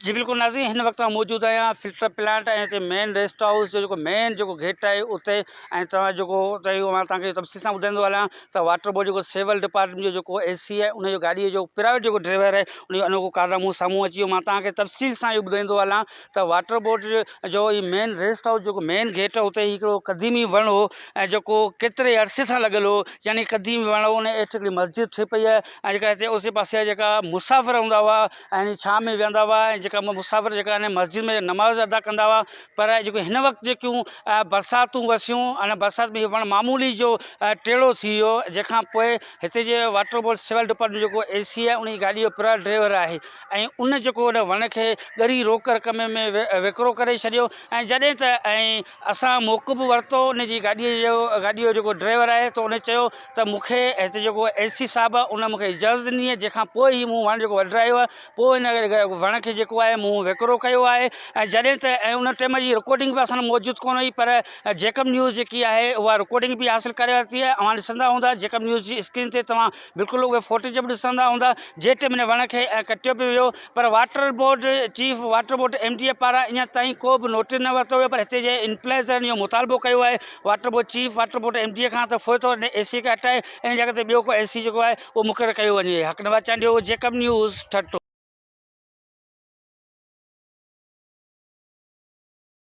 جي بلڪل ناظرين هن وقت مان موجود آهيان فلٽر پلانٽ ۽ هتي مين ريسٽ هائوس جو جيڪو مين جيڪو گيٽ آهي اتي ۽ توهان جيڪو اتي اهو مان توهان کي تفصيل سان ٻڌائيندو هلان ته واٽر بورڊ جيڪو سول ڊپارٽمينٽ جو جيڪو اي سي آهي ان جو گاڏيء جو پرائيويٽ جيڪو ڊرائيور آهي ان جو انوکو ڪارنامو سامهون اچي ويو مان توهان کي تفصيل سان اهو ٻڌائيندو هلان ته واٽر بورڊ جو هي مين ريسٽ هائوس جيڪو مين گيٽ اتي هڪڙو قديمي وڻ هو ۽ جيڪو ڪيتري عرصي سان لڳل هو يعني قديمي وڻ هو ان هيٺ هڪڙي مسجد ٺهي پئي آهي ۽ جيڪا هتي اوسي پاسي جا جيڪا مسافر هوندا هئا يعني ڇانھ ۾ ويھندا ھئا ۽ جيڪا مسافر جيڪا ان مسجد ۾ نماز ادا ڪندا ھئا پر جيڪو ھن وقت جيڪيون برساتون وسيون ان برسات ۾ ھي وڻ معمولي جو ٽيڙو ٿي ويو جنھن کان پوء ھتي جي واٽر بورڊ سول ڊپارٽمينٽ جيڪو اي سي آھي انھي گاڏي جو پرا ڊريور آھي ۽ ان جيڪو ان وڻ کي ڳري روڪ رقم ۾ وڪرو ڪري ڇڏيو ۽ جڏھن ته ۽ اسان موقعو به ورتو ان جي گاڏيء جو گاڏيء جو جيڪو ڊرائيور آهي تو ان چيو ته مون کي هتي جيڪو اي سي صاحب آهي ان مون کي اجازت ڏني آهي جنهن کان پوء هي مون وڻ جيڪو وڍرايو آهي پوء ان وڻ کي جيڪو آهي مون وڪرو ڪيو آهي ۽ جڏهن ته ۽ ان ٽيم جي رڪارڊنگ به اسان وٽ موجود ڪونه هئي پر جيڪب نيوز جيڪي آهي اها رڪارڊنگ به حاصل ڪري ورتي آهي اوهان ڏسندا هوندا جيڪب نيوز جي اسڪرين تي توهان بلڪل اهي فوٽيج به ڏسندا هوندا جيٽ من وڻ کي ڪٽيو به ويو پر water board chief water board M D A پاران اڃا تائين ڪو به نوٽس نه ورتو ويو پر هتي جي انپلائز اهو مطالبو ڪيو آهي water board chief water board M D A کان ته فوت ٿو اي سي کي هٽائي ان جي جڳهه تي ٻيو ڪو اي سي جيڪو آهي اهو مقرر ڪيو وڃي حق نواز چانڊيو جيڪب نيوز ٺٽو